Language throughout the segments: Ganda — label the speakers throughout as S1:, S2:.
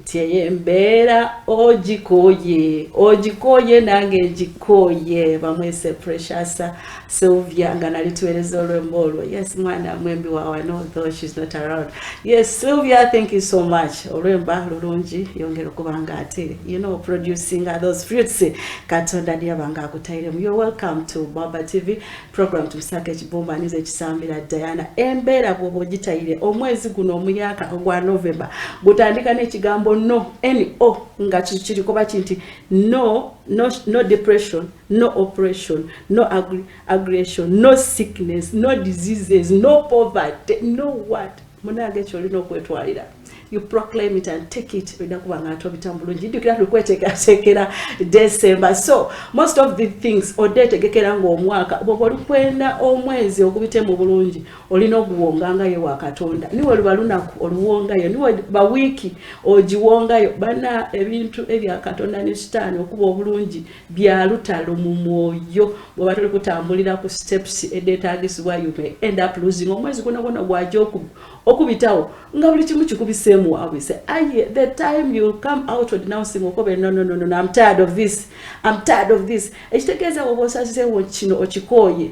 S1: tyeye mbeera ogikoye ogikoye nange ngikoye bamwese precious sylvia nga nali tuwereza olwemba olwo yes mwana mwembi wawano though she's not around yes sylvia thank you so much olwemba lulungi yongera okuba nga ate you know producing those fruits katonda niyabanga akutairemu you're welcome to baba tv program tubisaka ekibumba nize ekisambira diana embeera bwoba ogitayire omwezi guno omuyaka ogwa november gutandika n'ekigambo no no nga kirikoba ki nti no no no depression no operation no aggression no sickness no diseases no poverty no what munange ekyo olina okwetwalira you proclaim it and take it olina kuba nga atobita bulungi jjukira tukweteekateekera december so most of the things odde etegekera ngaomwaka bwoba olukwenda omwezi ogubite mu bulungi olina oguwongangayo wa katonda niwe luba lunaku oluwongayo niwe bawiiki ogiwongayo bana ebintu ebya katonda ne sitaani okuba obulungi bya lutalo mu mwoyo bw'oba tuli kutambulira ku steps edeetaagisibwa you may end up losing omwezi guno gwona gwaja okubitawo nga buli kimu kikubiseemu wabwise aye the time you come out denouncing okobe nononono am tired of this am tired of this ekitegeeza woba osazeewo kino okikooye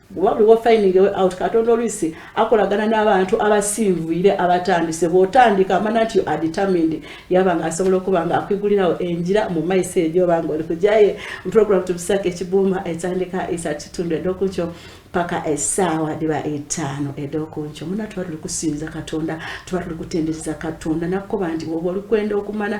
S1: Oba buli wa finding a way out, Katonda oluisi akolagana n'abantu abasinvuire abatandise. Bwotandika amana nti you are determined, yaba nga asobola okuba nga akwigulirawo enjira mu maiso ejo oba nga oli kujaye. Program tubisaka ekibuuma etandika isa kitundu edokunkyo paka esaawa diba etaano edokunkyo. Muna tuba tuli kusinza Katonda, tuba tuli kutendereza Katonda nakuba nti woba oli kwenda okumana.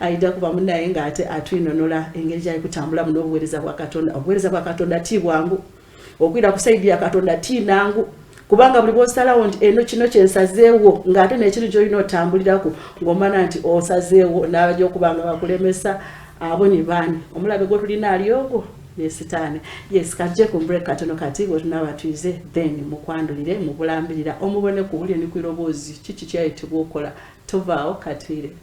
S1: Aida kuba munaye nga ate atwinonola engeri gyali kutambulamu n'obuweereza bwa Katonda. Obuweereza bwa Katonda ti bwangu, okwira ku saidi ya Katonda ti nangu kubanga buli bwosalawo nti eno kino kyensazeewo ng'ate nekiri gyolina otambuliraku ng'omana nti osazeewo n'abaja okuba nga bakulemesa abo ni baani omulabe gwotulina ali ogwo ne sitaani yes katuje ku mbreak katono kati bwetunaba tuyize then mukwandulire mubulambirira omubone ku wulire ni ku iroboozi kiki kyayitibwa okola tovaawo katuyire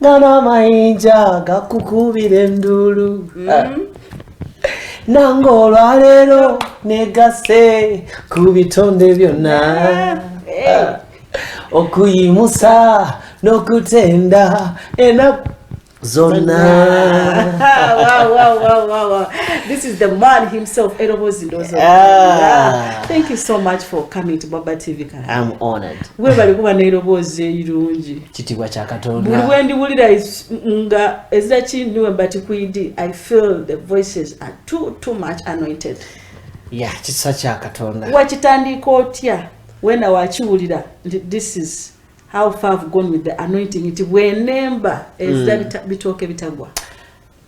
S2: Nana mayinja gakukubira enduulu mm. ah. nange olwaleero negase ku bitonde byonna eh. ah. okuyimusa n'okutenda enaku zonna
S1: this is the man himself erobozi ndozo ah. thank you so much for coming to baba tv I'm honored
S2: webale kuba
S1: n'eroboozi erirungi kitibwa kya katonda
S2: buli wendi wulira
S1: nga ezira kindiwe but kuidi i feel the voices are too too much anointed ya
S2: kisa kya katonda wakitandiika otya
S1: wena wakiwulira nti this is how far have gone with the anointing nti bwenemba ezira mm. bitooke bitagwa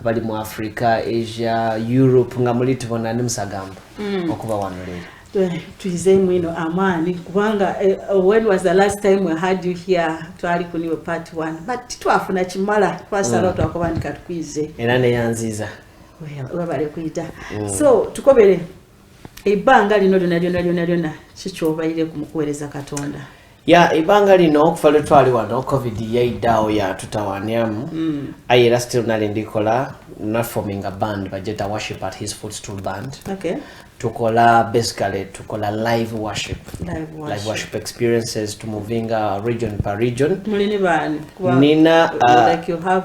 S2: abali mu africa asia europe nga muli tubona ni musagamba mm. okuba wano leero eh, tuyizeemu ino
S1: amaani kubanga eh, when was the last time we had you here twali kuniwe part one but titwafuna kimala twasalawo mm. twakuba nti katukuyize era neyanziiza
S2: webale
S1: kuyita mm. so tukobere ebbanga lino lyona lyona lyona lyona kikyobaire ku mukuweereza katonda ya ebbanga
S2: lino okuva lwe twali wano covid yaidaawo yatutawanyamu mm. aye era still nali ndikola naforminga band bajeta worship at his foot stool band okay.
S1: tukola
S2: basically tukola live worship live worship, live worship experiences to movinga region per region mulini bani
S1: nina uh,
S2: like you have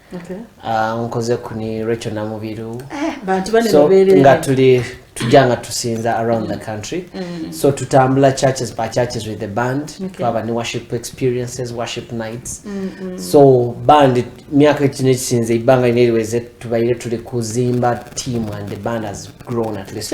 S2: okay.
S1: uh, nkoze
S2: kuni recho namubiru eh, so,
S1: nga tuli
S2: tujja nga tusinza around the country mm. so tutambula churches by churches with the band okay. twaba ne worship experiences worship nights mm -hmm. so band myaka kino ekisinze ibanga ineriweze tubaire tuli kuzimba team and the band has grown at least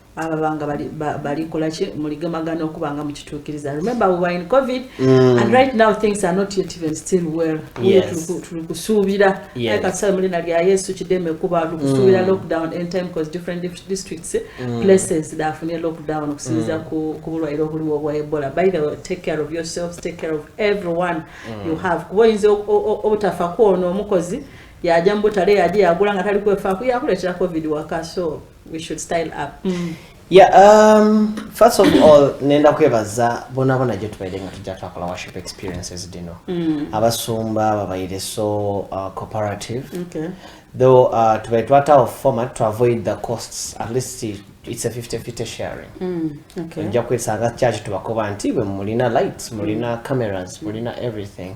S1: ababanga balikolaki bali muligemagana okuba nga mukituukiriza remember we were in covid mm. and right now things are not yet even still well yes. tuli kusuubira yes. like atusale mulina lya yesu kideme kuba tuli kusuubira mm. lockdown end time cause different districts mm. places dafunye lockdown okusinziza mm. ku, ku bulwaire obuliwo obwa ebola by the way take care of yourselves take care of everyone mm. you have kuba oyinza obutafa kwono omukozi yaja mubutale yaje yagula nga tali kwefaako yakuletera covid waka so we should style up mm. Yeah, um, first
S2: of all nenda kwebaza bonabona gye tubaire nga tujja twakola worship experiences dino mm. abasumba babaire so uh, cooperative okay.
S1: though uh,
S2: tubaire twatawo format to avoid the costs at least it's a 50 50 sharing mm, okay. nja
S1: kwesanga
S2: kyaki tubakoba nti bwe mulina lights mulina mm. cameras mulina everything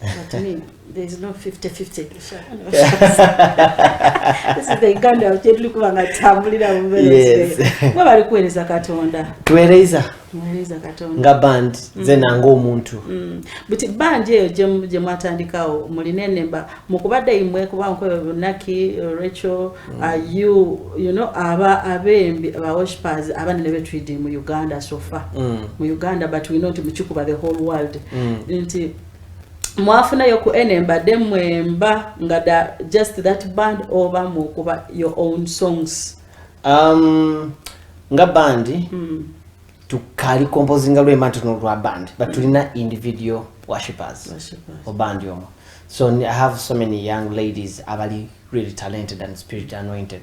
S1: But I mean, there's no 50-50. This is the Uganda of Jedli Kubanga Tambulira Yes. Mwa bali
S2: kuwereza
S1: katonda. Tuwereza.
S2: Tuwereza katonda.
S1: Nga band, mm. zena
S2: nga omuntu. Mm. But band
S1: yeyo jemu jemu atandika o muline nemba. Mukubada imwe kuba mkwe Naki, Rachel, mm. are you, you know, aba abe mbi, aba worshippers, aba nilebe tuidi mu Uganda so far. Mm. Mu Uganda, but we know ti mchukuba the whole world. Mm. Nti, mwafunayo ku ene mbadde mwemba nga da just that band oba mukuba your own songs um,
S2: nga bandi mm. tukali composinga lwema ntono lwa band but mm. tulina individual worshippers obandi omo so i have so many young ladies abali really talented and spirit anointed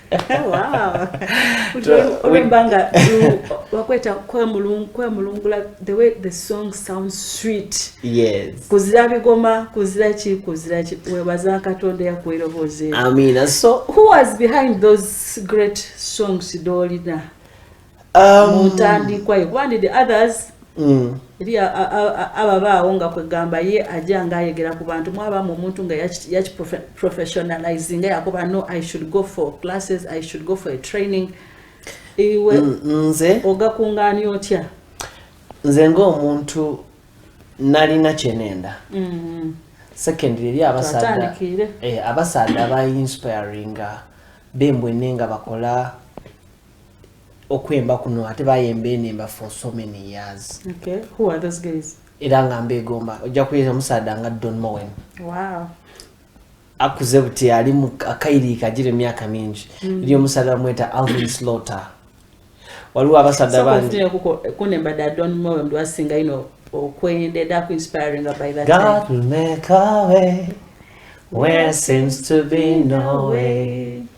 S1: olemba nga wakweta kwemulungula the way the song sounds sweet kuzira
S2: bigoma
S1: kuzira ki kuzira ki webaza katonda yakuerobozeamina so
S2: who was behind
S1: those great songs dolina um, muntandikwa ye kuba ndi the others mm. eri ababaawo nga kwegamba ye aja nga ayegera ku bantu mwabamu omuntu nga yakiprofessionalize nga yakuba no i should go for classes i should go for a training iwe mm, nze
S2: ogakungaani otya
S1: nze
S2: ngaomuntu nalina kyenenda mm-hmm. secondly eri abasaada eh, abasaada bainspiringa bembwene nga bakola okwemba kuno ate bayemba enemba for so many years okay. Who are those
S1: guys? era nga mbegomba
S2: ojja kuyeza omusaada nga don mowen wow. akuze buti ali akairiika gira emyaka mingi mm. eri omusaada bamweta alvin slaughter waliwo abasaada bangikunembadadonmowendiwasingaino
S1: okwendeda ku inspiring by that God will make
S2: a way where seems to be no way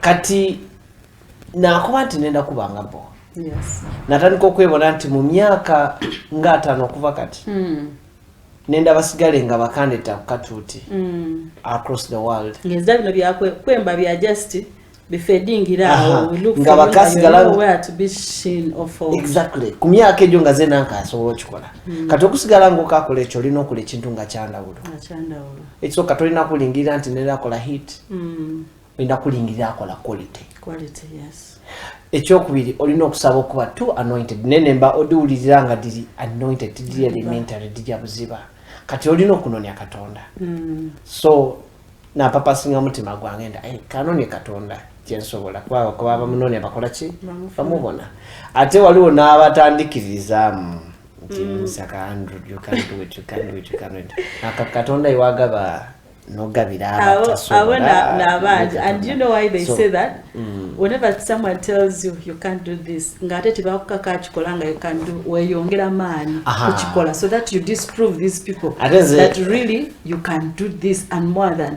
S2: kati nakuba nti nenda kuba nga bo
S1: natandika okwebona
S2: nti mu myaka nga ataano okuva kati hmm. nenda basigale nga bakandeta kukatuuti hmm. across the world ngeza bino byakwemba
S1: bya just nga
S2: bakasigalaaexactly
S1: ku myaka egyo
S2: nga zena nkasobola okikola hmm. kati okusigala ngaokakola ekyo olina okola ekintu nga kyandawulo ekisooka tolina kulingirira nti nera akola hit mm. olina kulingirira akola quality
S1: ekyokubiri
S2: olina okusaba okuba t anointed naye nemba odiwulirira nga diri anointed diri elementary dija buziba kati olina okunonya katonda mm. so napapasinga mutima gwange nda eh, kanonya katonda kyensobola kubakuba bamunonya bakola ki bamubona ate waliwo n'abatandikiririzaamu nti mm. nsaka andrew you can do it you can do it you can do it aka katonda iwagaba nogabira abatasobola nabangi
S1: and you know why they so, say that mm. whenever someone tells you you can't do this ngate tebakukaka akikola nga you can do weyongera maanyi kukikola so that you disprove these people that really you can do this and more than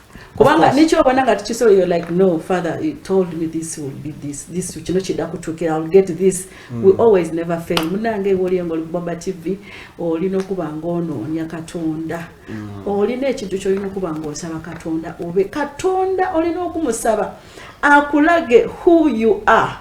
S1: kubanga nekyobona nga tukisobola yo like no father he told me this will be this this kino kidda kutuukira ill get this mm. we hmm. always never fail munange ewe oliyo nga olibubaba tv olina okuba nga onoonya katonda mm. olina ekintu kyolina okuba nga osaba katonda obe katonda olina okumusaba akulage who you are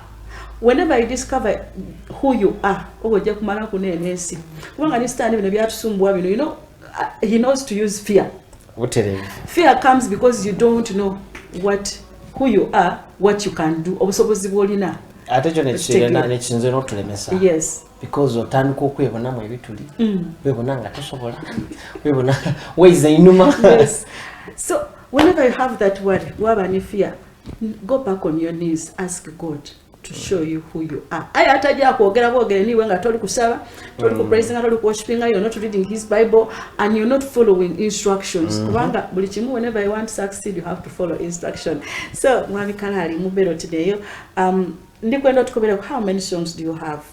S1: whenever you discover who you are oba ojja kumala kuneena ensi kubanga ne sitaani bino byatusumbua bino you know, uh, he knows to use fear butereevu fear comes because you don't know what who you are what you can do obusobozi bwolina ate kyo
S2: nekisinze notulemesa yes because
S1: otandika
S2: okwebonamu ebituli mm. webona nga tosobola webona waiza inuma yes.
S1: so whenever you have that word waba ne fear go back on your knees ask god to show you who you are aye ataja kwogera bwogere niwe nga toli kusaba toli kupraise mm. nga toli kuwoshipinga you're not reading his bible and you're not following instructions mm-hmm. kubanga buli kimu whenever you want to succeed you have to follow instruction so mwami kanali mubero tideyo um ndikwenda tukubereko how many songs do you have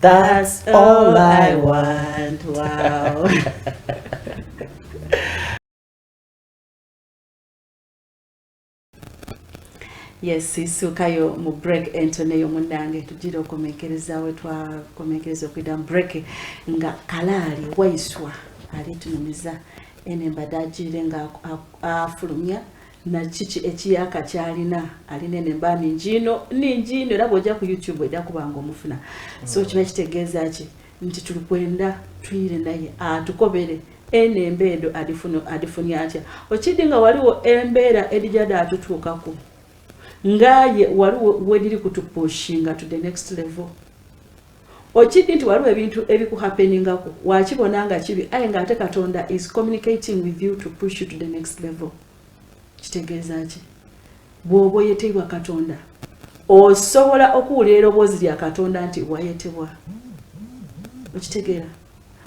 S2: That's all I want. Wow.
S1: yes isuukayo mu break entoneyo munnange tugira okomenkereza we twakomenkereza okuyita mu break nga kalaali waiswa ali tunumiza ene mbadde agiire nga afulumya na kiki ekiyaka kyalina alina eno emba ningi ino ningi ino era bwojja ku youtube ojja kuba nga omufuna so kiba kitegeeza ki nti tuli kwenda tuyire naye atukobere eno embeedo adifunye atya okidi nga waliwo embeera edijade atutuukaku ngaye waliwo wediri kutupushinga to the next level Okidi nti waliwo ebintu ebikuhappeningako wakibona nga kibi aye nga ate katonda is communicating with you to push you to the next level kitegeeza ki bwoba oyeteibwa katonda osobola okuwulira eroboozi lya katonda nti wayetebwa okitegeera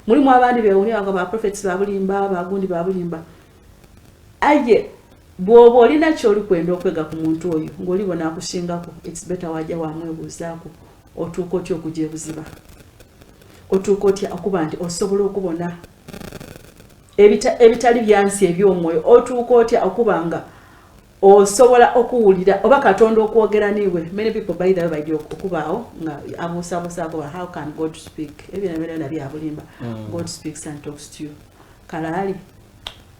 S1: mulimu abandi bewunia nga baprofets babulimba bagundi babulimba aye bwoba olina kyoli kwenda okwega ku muntu oyo ngaolibonakusingako its better waja wamwebuuzaako otuuka otya okugya ebuziba otuuka otya okuba nti osobola okubona ebitali byansi ebyomwoyo otuuka otya okuba nga osobola okuwulira oba katonda okwogera niwe many people by the way bajja okubaawo nga abuusabuusaako how can god speak ebyo nabyona byabulimba mm. god speaks and talks to you kalaali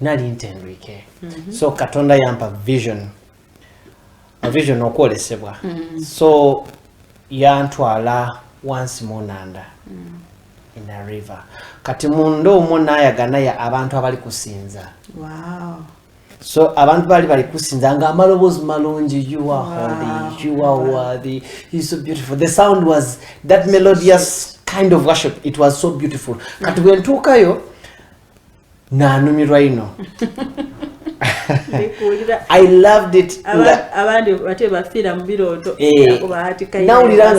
S2: nali ntendwike mm -hmm. so katonda yampa vision vision okwolesebwa mm -hmm. so yantwala wansi munanda mm -hmm. in a river kati munda omwo nayaganaye abantu abali kusinza wow.
S1: so
S2: abantu bali bali kusinza nga amaloboozi malungi you are wow. holy you are wow. worthy you so beautiful the sound was that melodious kind of worship it was so beautiful kati mm -hmm. bwentuukayo nanumirwa ino i loved it abandi bate
S1: bafiira mu birooto eh,
S2: nawulira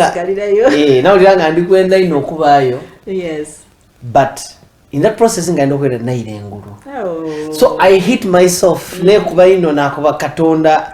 S2: nga eh, ndi kwenda ino okubaayo
S1: but
S2: in that process nga ndi okwenda nayira engulu oh. so i hit myself mm. nekuba ino nakuba katonda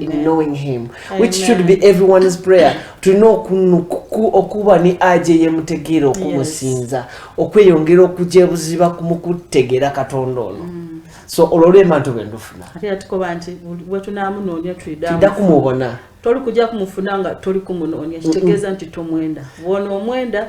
S2: in knowing him which should be everyone's prayer tulina okuba ne aja eyemutegeera okumusinza okweyongera okuja ebuziba kumukutegeera katonda ono mm. so olwo olwemba nti obendufuna
S1: tuda kumubona
S2: toli kuja kumufuna
S1: nga toli kumunoonya kitegeeza nti tomwenda wona omwenda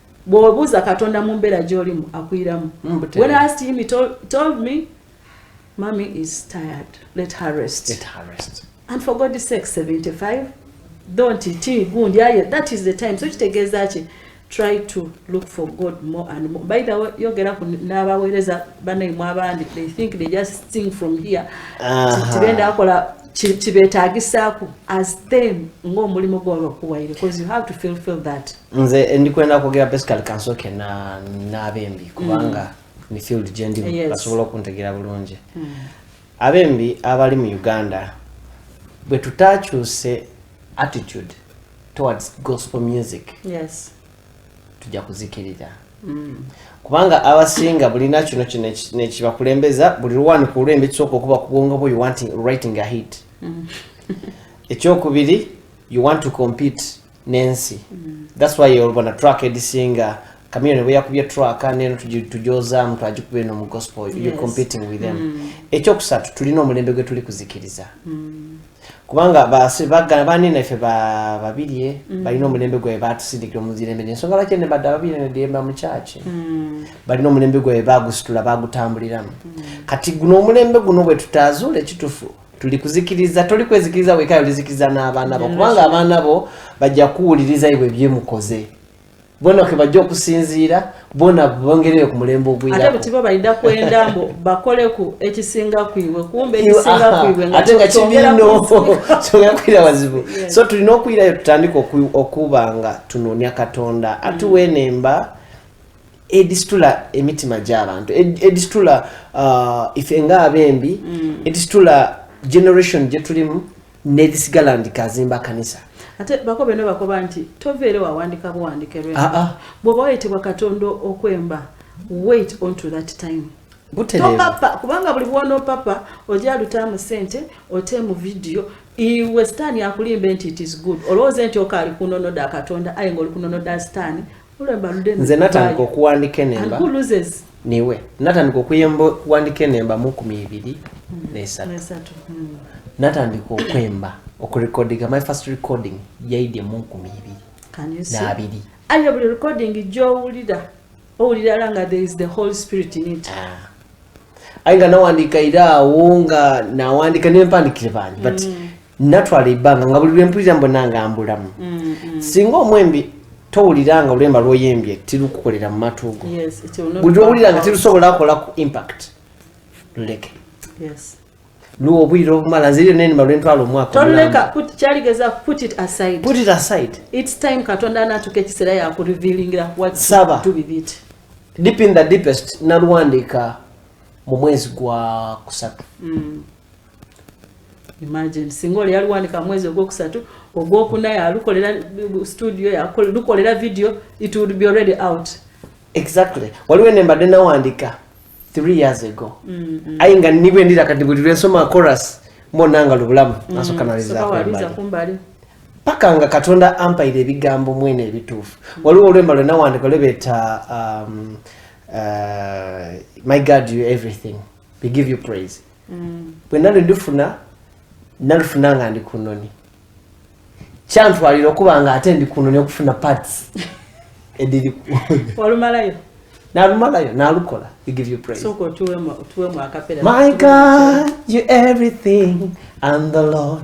S1: bwobuuza katonda mu mbeera gyolimu akuyiramu mm, when i asked him he told, told me mommy is tired let her rest, let her rest.
S2: and for god sake
S1: 75 don't ti gundi yaye that is the time so kitegeeza ki try to look for god more and more by the way yogera ku n'abaweereza banaimwe abandi they think they just sing from here tibenda akola kibetagisaku as them ng'omulimu gwabakuwaire because you have to fulfill that nze ndikwenda
S2: kwogera basically kansooke n'abembi kubanga mm. ni field gye ndimu basobola okuntegeera bulungi mm. abembi abali mu uganda bwe tutakyuse attitude towards gospel music
S1: tujja
S2: kuzikirira mm. kubanga abasinga bulina kino kino nekibakulembeza buli lwani ku lwembi kisooka okuba kubwongo bwo writing a hit ekyokubiri you want to compete nensi thats why olubona track edisinga kamiyoni bwe yakubye track neno tujozaamu twagikuba eno mu gospel yes. you competing with them mm. ekyokusatu tulina omulembe gwe tuli kuzikiriza mm. kubanga bagana banene ffe babirye mm. balina omulembe gwabe batusindikira omuzirembe nensonga lwaki ene badde ababirye nediyemba mu kyaki mm. balina omulembe gwabe bagusitula bagutambuliramu mm. kati guno omulembe guno bwe tutaazuula ekitufu tuli kuzikiriza toli kwezikiriza weka olizikiriza n'abaana bo kubanga abaana bo bajja kuwuliriza ebyo byemukoze bona ke bajja okusinziira bona bongerere ku mulembe ogwiraate butiba balida kwenda
S1: mbu bakoleku ekisinga kwibwe kumbe ekisinga kwibwe ate nga kibino
S2: kyogera kwira wazibu so tulina okuyirayo tutandika okuba nga tunoonya katonda atuwa mm. enemba mm. edisitula emitima gy'abantu edisitula uh, ife nga abembi mm. edisitula generation gye tulimu n'edisigala ndi kazimba kanisa ate bako beno
S1: bakoba nti toveere wawandika buwandike lwe ah, ah. bwoba wayitibwa katonda okwemba wait on to that time topapa kubanga buli bwono papa oja lutamu sente ote mu vidiyo iwe sitaani akulimbe nti it is good olowooze nti okaali kunonoda katonda aye nga oli kunonoda sitaani nze natandika okuwandika
S2: enemba
S1: niwe natandika
S2: okuyemba okuwandika enemba mukumi ibiri hmm. nesatu hmm. natandika okwemba okurekodinga my first recording yaidye mukumi ibiri
S1: nabiri ayo buli
S2: recording
S1: gyowulira owulira la nga there is the whole spirit in it ah.
S2: ayi nga nawandika ira awo nga nawandika nempandikire bangi but mm. natwala ebbanga nga buli lwempulira mbona nga mbulamu mm-hmm. singa omwembi towulira nga olwemba lwoyembye tirukukolera mu matu go buli
S1: lwowulira nga tirusobola
S2: kola ku impact luleke
S1: luwa obwire
S2: obumala nze lyo nenima lwentwala
S1: omwakasaba deep in the
S2: deepest nalwandika mu mwezi gwa kusatu mm.
S1: imagine singa oli yaluwanika mwezi ogwokusatu ogwokuna yalukolera studio yalukolera video it would be already out exactly
S2: waliwo ene mbadde nawandika three years ago mm, mm. aye nga nibwe ndira kati buli lwensoma chorus mbona nga lubulamu mm, nasoka naliza kumbali
S1: paka nga
S2: katonda ampaire ebigambo mwene ebituufu mm. waliwo olwemba lwe nawandika lwebeta um, uh, my god you everything we give you praise mm. bwe nali ndifuna nalifuna nga ndi ku nnoni kyantwalira okuba nga ate ndi ku nnoni okufuna parts ediri walumalayo
S1: nalumalayo
S2: nalukola we give you praise so ko tuwe mu tuwe
S1: mu akapera my god
S2: you everything and the lord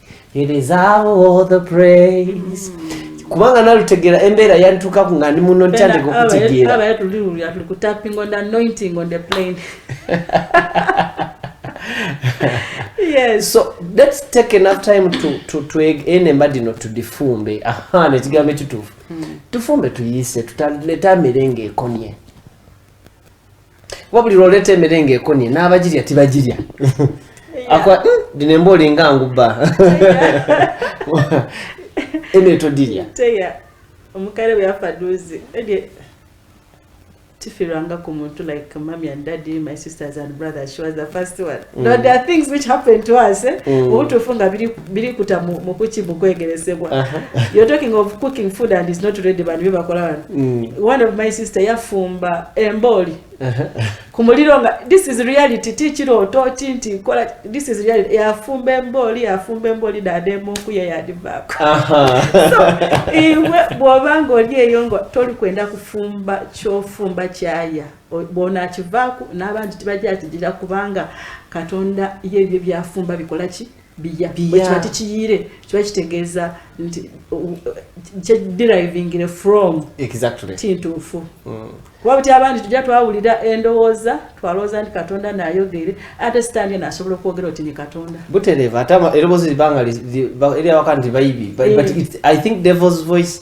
S2: He deserve all the praise. Kubanga nalutegera embera yantuka ku ngani muno ntande ko kutegera. Aba yatu liru ya
S1: ku tapping on the anointing on the plane. yes. So let's
S2: take enough time to to to ene mbadi no to difumbe. Aha ne tigambe tutufu. Hmm. Tufumbe tuyise tutaleta merenge ekonye. kuba buli lwoleeta emere nga ekonye n'abagirya tibagirya akwa hmm, dino emba olinga ngubba emere todirya teya
S1: omukale bweyafaduzi tifiranga ku muntu like mommy and daddy my sisters and brothers she was the first one mm. no, there are things which happened to us eh? mm. obutuufu nga biri birikuta mukuki mukwegeresebwa you're talking of cooking food and is not ready bantu byebakola bantu mm. one of my sister yafumba embooli ku muliro nga this is reality ti kirooto ki nti kola this is reality yafumba embooli yafumba embooli nademuku yeyadivaako so iwe bwoba nga oli eyo nga toli kwenda kufumba kyofumba kyaya bwonakivaako n'abantu tibajja kigira kubanga katonda yebyo byafumba bikola ki biya ekiba tekiyiire kiba kitegeeza nti kyedirivingire from kintuufu
S2: mm.
S1: kuba buti abandi tujja twawulira endowooza twalowooza nti katonda nayogere ate sitaani eno asobola okwogera oti ni katonda butereeva ate
S2: eroboozi libanga eri awaka nti bayibi but eh. i think devil's voice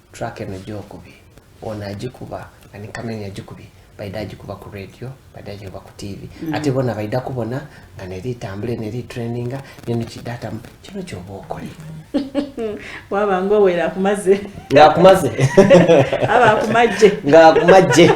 S2: Track eno gyokubye ono agikuba ani kamenya agikubye baida agikuba ku radio baida agikuba ku tv mm. ate bona baida kubona nga neri itambule neri traininga neno kidata kino kyoba okole
S1: waba nga owera akumaze nga akumaze
S2: aba
S1: akumajje nga akumajje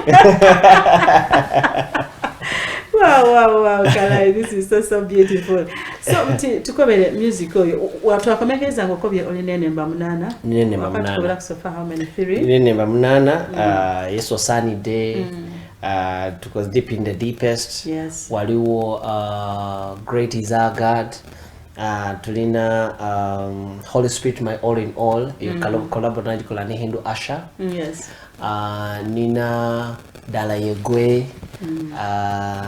S1: wow wow wow Kalai, this is so so beautiful so nti tukobere music oyo watwakomekeza nga okobye olina enemba munaana wakatukola
S2: kusofa how many
S1: three nina enemba munaana
S2: mm. uh, yesu osaanidde mm. uh, tukoze deep in the deepest waliwo uh, great is our god Uh, tulina um, holy spirit my all in all mm. collabo nagikola ne hindu asher mm, yes. uh,
S1: nina
S2: dala yegwe mm. uh,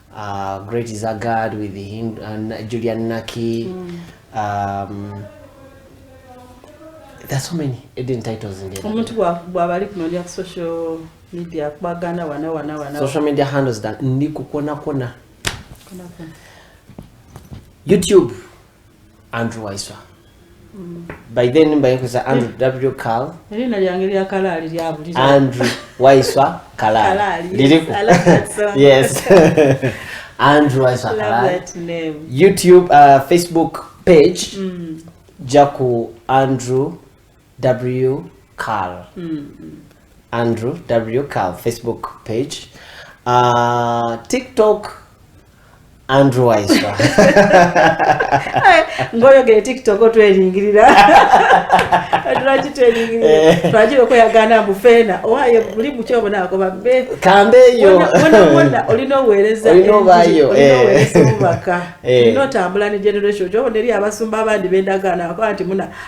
S2: uh, great is a god with him and uh, julian naki mm. um, there's so many hidden titles in there omuntu bwabali
S1: kuno lya social media kubagana wana wana wana social media handles
S2: that ndi kukona kona youtube Andrew Waiswa mm. by then mbayokoza Andrew eh. W Carl erina lyange lya
S1: kalali lya buli Andrew
S2: Waiswa kalali liliku
S1: yes
S2: Andrew Waiswa kalali
S1: YouTube uh,
S2: Facebook page mm. jaku Andrew w carl andrew w carl facebook page uh, tiktok andrew waiswa
S1: ngoyogere tiktok otweringirira lwaki tweringirira Eh. twagira okweyagana mbu feena owaye buli muki obonako babbe kambeeyo
S2: Wona- wona
S1: olina oweereza Olina enjiri, obaayo, olina eh.
S2: oweereza obubaka
S1: Eh. olina otambula ne generation kyobona eri abasumba abandi bendagaana bakola nti muna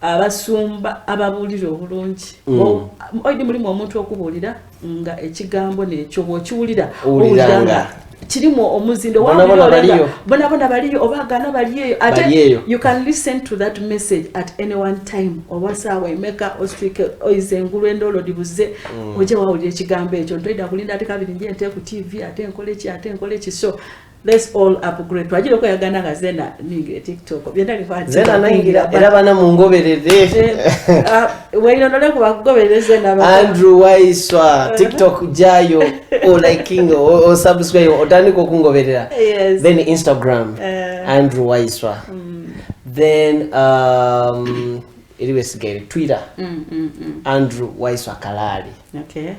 S1: abasumba ababuulira obulungi mm. oidi mulimu omuntu okubuulira nga ekigambo nekyo bwokiwulira owuliranga
S2: kirimu
S1: omuzindo bonabona baliyo oba agana baliyeyo ate you can listen to that message at any one time oba saawa emeka ostrike oize engulu endoolo dibuze mm. oje wawulira ekigambo ekyo ntoida kulinda ate kabiri nje nte ku tv ate nkoleki ate nkoleki so Let's all upgrade. Twajira ko yagana nga zena ningira TikTok. Byenda ni kwati. Zena ningira era
S2: bana mungoberere. Eh, ah,
S1: Weino nole ku bakugoberere zena ba. Andrew Waiswa
S2: eh. TikTok jayo o liking o, o subscribe o tani ko kungoberera. Yes. Then Instagram. Uh, Andrew Waiswa. Mm. Then um iliwe sigere Twitter. Mm, mm, mm. Andrew Waiswa Kalali. Okay.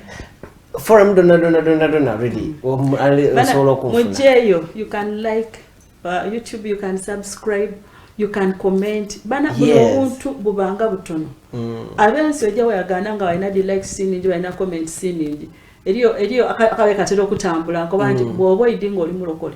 S1: forum
S2: donna donna donna donna really osobola okunfunamugyeyo you can
S1: like uh, youtube you can subscribe you can comment bana buli yes. obuntu bubanga butono mm. abensi ojja weyagana nga walina di like siningi walina comment siningi eriyo eriyo akabe katera okutambula nkoba nti mm. bwoba oyidi nga oli mulokole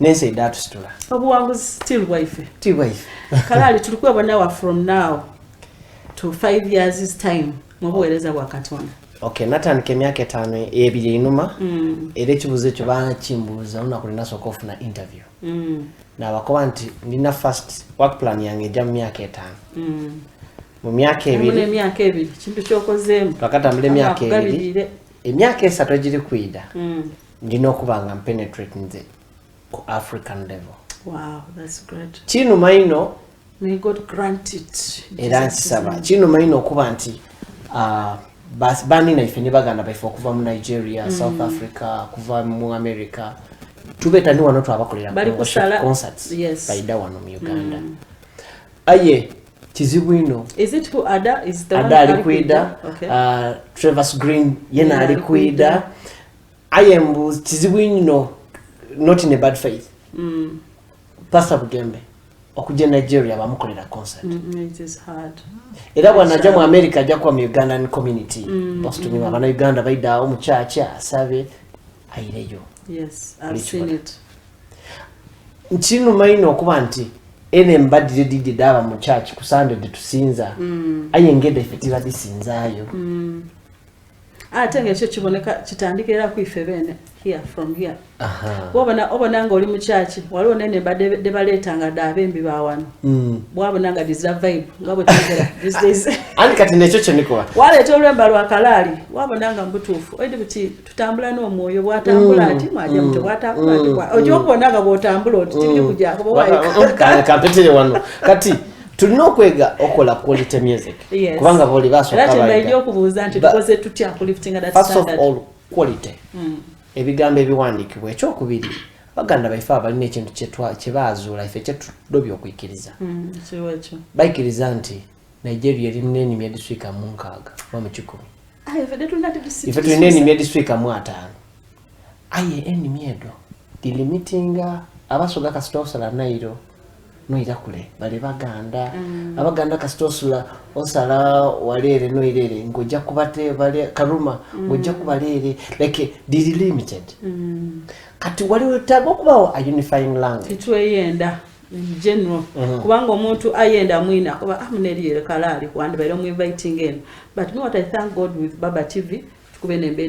S1: nensi edatusitula
S2: obuwanguzi still
S1: bwaife ti bwaife kalaali tuli kwewonawa from now to five years is time mu buweereza bwa katonda okay natandika
S2: emyaka etaano ebiri einuma mm. era ekibuuzo ekyo bakimbuuza olunaku linasooka ofuna interview mm. nabakoba nti ndina first work plan yange ejja mu myaka etaano mm. mu myaka ebirimyaka ebiri
S1: kintu kyokozeemu twakatambula emyaka
S2: ebiri emyaka esatu egiri kwida ndina okuba nga mpenetrate nze ku african level wow,
S1: that's great. kinuma ino era nkisaba
S2: kinuma ino okuba nti uh, banina ife ne baganda baife okuva mu nigeria mm. south africa kuva mu america tubeta ni wano twabakolera concerts yes. baida wano mu uganda mm. aye kizibu ino ada
S1: ali kwida okay.
S2: uh, travers green yena ali kwida aye mbu kizibu nnyo not in a bad faith mm. pastor bugembe okujja e nigeria bamukolera concert mm, mm,
S1: era bwanajja
S2: mu america ajja kuba mu ugandan community mm, basutumira abana uganda baidaawo mu kyaki asabe ayireyo nkinuma ino okuba nti ene mbadire didye daba mu kyaki kusande detusinza aye ngeda ife tibadisinzayo
S1: ate nga ekyo kiboneka kitandika era kwife beene here from here wabona obona nga oli mukyaki waliwo nene debaleeta nga daabembi bawano hmm. bwabona nga dizira vibe nga bwetugera these days ani kati nekyo
S2: kyenikola waleeta olwemba lwa
S1: kalaali wabona nga mubutuufu oidi buti tutambula n'omwoyo bwatambula hmm. ati mwaja mute hmm. bwatambula ati oja okubona nga bwotambula oti tibiri kujako bowaikampitire wano
S2: kati tulina okwega okola quality music kubanga boli basokabaega okubuuza
S1: nti tukoze tutya kuliftinga that standard first of all quality
S2: mm. ebigambo ebiwandiikibwa ekyokubiri baganda baife abalina ekintu kyebaazuula ife kyetudobya okuikiriza mm, baikiriza nti nigeria erina enimi ediswika munkaaga oba mukikumi ah, ife tulina enimi ediswika mu ataano aye enimi edo dilimitinga abasoga kasita osala nairo noira kule bale baganda mm. abaganda kasita osula osala waleere noirere ngojja kubate bale karuma mm. ngojja kubaleere like diri limited mm. kati wali wetaaga okubawo a unifying language tetweyenda
S1: general mm-hmm. kubanga omuntu ayenda mwina kuba amuneri ah, yere kalali kwandi bayiro mu inviting eno but me what i thank god with baba tv tukuba enemba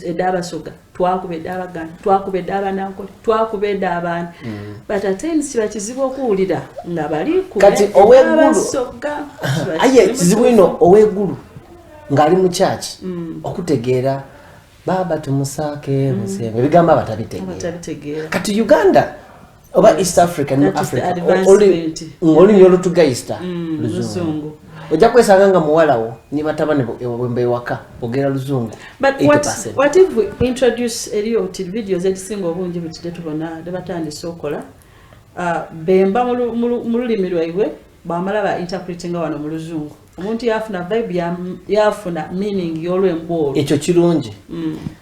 S1: eda abasoga twakuba eda abaganda twakuba eda abanankole twakuba eda abaani mm. but atensi kiba kizibu okuwulira nga bali kati owegguluabasoga
S2: aye ekizibu ino oweggulu ng'ali mu kyaki mm. okutegeera baaba tumusaake mm. musenga ebigambo abatabitegeera kati uganda oba mm. east africa ne africa olulimi olutugayista mm, luzungu ojja kwesanga nga muwalawo ne batabani bwemba ewaka ogera luzungu
S1: eriyo ti vidiyo zekisinga obungi butide tubona nebatandise okola uh, bemba mu lulimi lwaibwe bamala ba interpretinga wano mu luzungu omuntu yafuna vibe yafuna meaning yolwemboolo ekyo kirungi mm.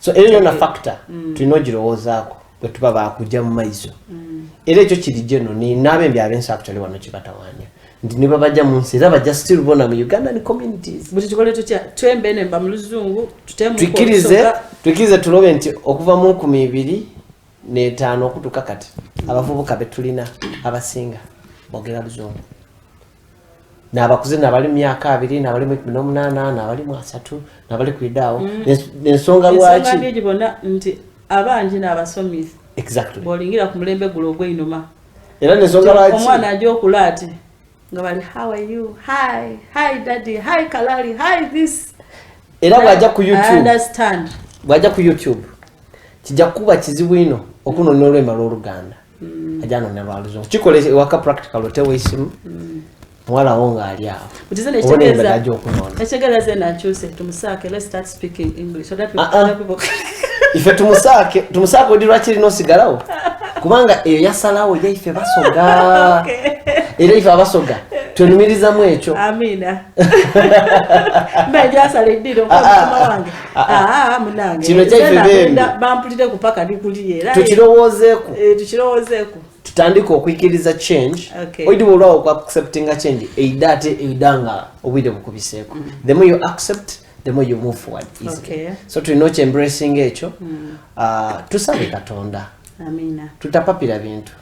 S2: so era yona factor mm. tulina ogirowoozaako bwe tuba baakujja mu maiso mm. era ekyo kiri geno n'abembi abensi actually wano kibatawaanya nti ne babajja mu nsi era bajja still bona mu ugandan communities buli kikole tutya
S1: twembe nemba mu luzungu tutemutwikirize
S2: twikirize tulobe nti okuva mu nkumi ibiri n'etaano okutuuka kati abavubuka be tulina abasinga bogera luzungu nabakuze nabali mumyaka abiri nabali mwekumi nomunana nabali mwasatu nabali kwidaawo mm. nensonga lwaki nti
S1: abangi nabasomi exactly bolingira
S2: ku mulembe
S1: gulo ogweinuma era nensonga
S2: lwaki omwana aja okula ati
S1: nga bali how are you hi hi daddy hi kalali hi this era bwaja
S2: ku youtube understand
S1: bwaja ku youtube
S2: kijja kuba kizibu ino okunonoola emala oluganda mm. ajja anoonya lwa luzungu kikola ewaka practical otewa esimu mm. muwala wo ng'ali awo obonaemberaja
S1: okunoonaife tumusaake
S2: tumusaake odi lwaki lina osigalawo kubanga eyo yasalawo ye ife basoga era ife abasoga twenumirizamu ekyo
S1: Ah, ah, kino
S2: kyaitukirowoozeeku
S1: eh,
S2: eh, tutandike okwikiriza change oidiba olwawo ku acceptinga change eida ate eida nga obwire bukubiseeko mm. the more you accept the more you move forward easily so tulina okyembracing ekyo mm. ah, tusabe katonda
S1: tutapapira bintu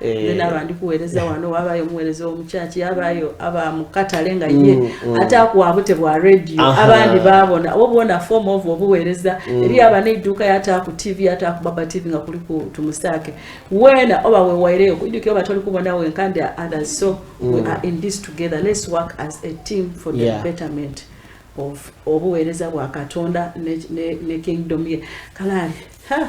S1: Eh. naba ndi kuweereza wano wabayo omuweereza womukyaki yabayo aba mukatale nga ye mm, mm. ate akuwabute bwa radio abandi babona obwona form of obuweereza mm. eri aba neidduuka yata ku tv yata ku baba tv nga kuli ku tumusaake wena oba wewaireyo kuidukira oba toli kubona wenka ndi others so we are in this together let's work as a team for the yeah. betterment of obuweereza bwa katonda ne, ne, ne kingdom ye kalaali ha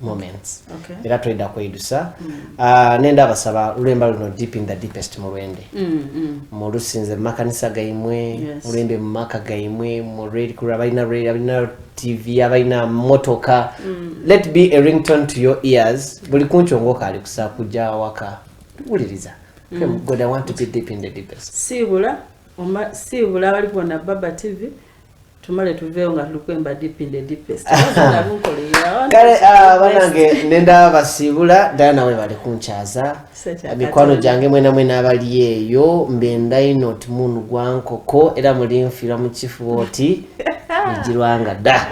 S2: moments okay. era tweda
S1: kweyidusa mm.
S2: uh, ah, nenda abasaba lulemba luno deep in the deepest mulwende mm, mm. mulusinze mumakanisa gaimwe yes. mulwende mumaka gaimwe mured kura balina red abalina tv abalina motoka mm. let be a rington to your ears buli kunkyongoka ali kusa kuja waka wuliriza mm. god i want to be deep in the deepest sibula
S1: sibula bali bona baba tv tumale tuveewo nga tulukwemba deep in the deepest
S2: kale ah, banange nenda basiibula ddala nawe bali kunkyaza mikwano gyange mwena mwena abali eyo mbendaino timun gwankoko era muli nfiira mu kifuba oti mugirwanga dda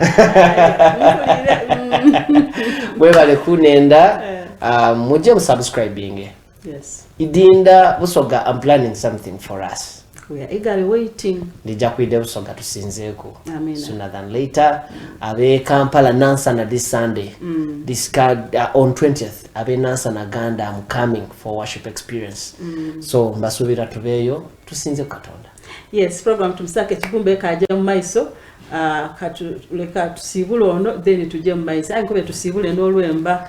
S2: mwebale kunenda eh. ah, mujje musubscribinge Yes.
S1: Idinda
S2: Busoga, I'm planning something for us. We are eagerly
S1: waiting. Ndija kwide Busoga
S2: tusinzeeko. Amen. Sooner than later. Abe Kampala Nansana this Sunday. Mm. This card uh, on 20th. Abe Nansana Ganda, I'm coming for worship experience. Mm. So mbasubira tubeyo tusinze Katonda. Yes, program
S1: tumsake kibumbe kaje mu maiso. Uh, katuleka tusibule ono then tuje mu maiso. Ayi kobe tusibule n'olwemba.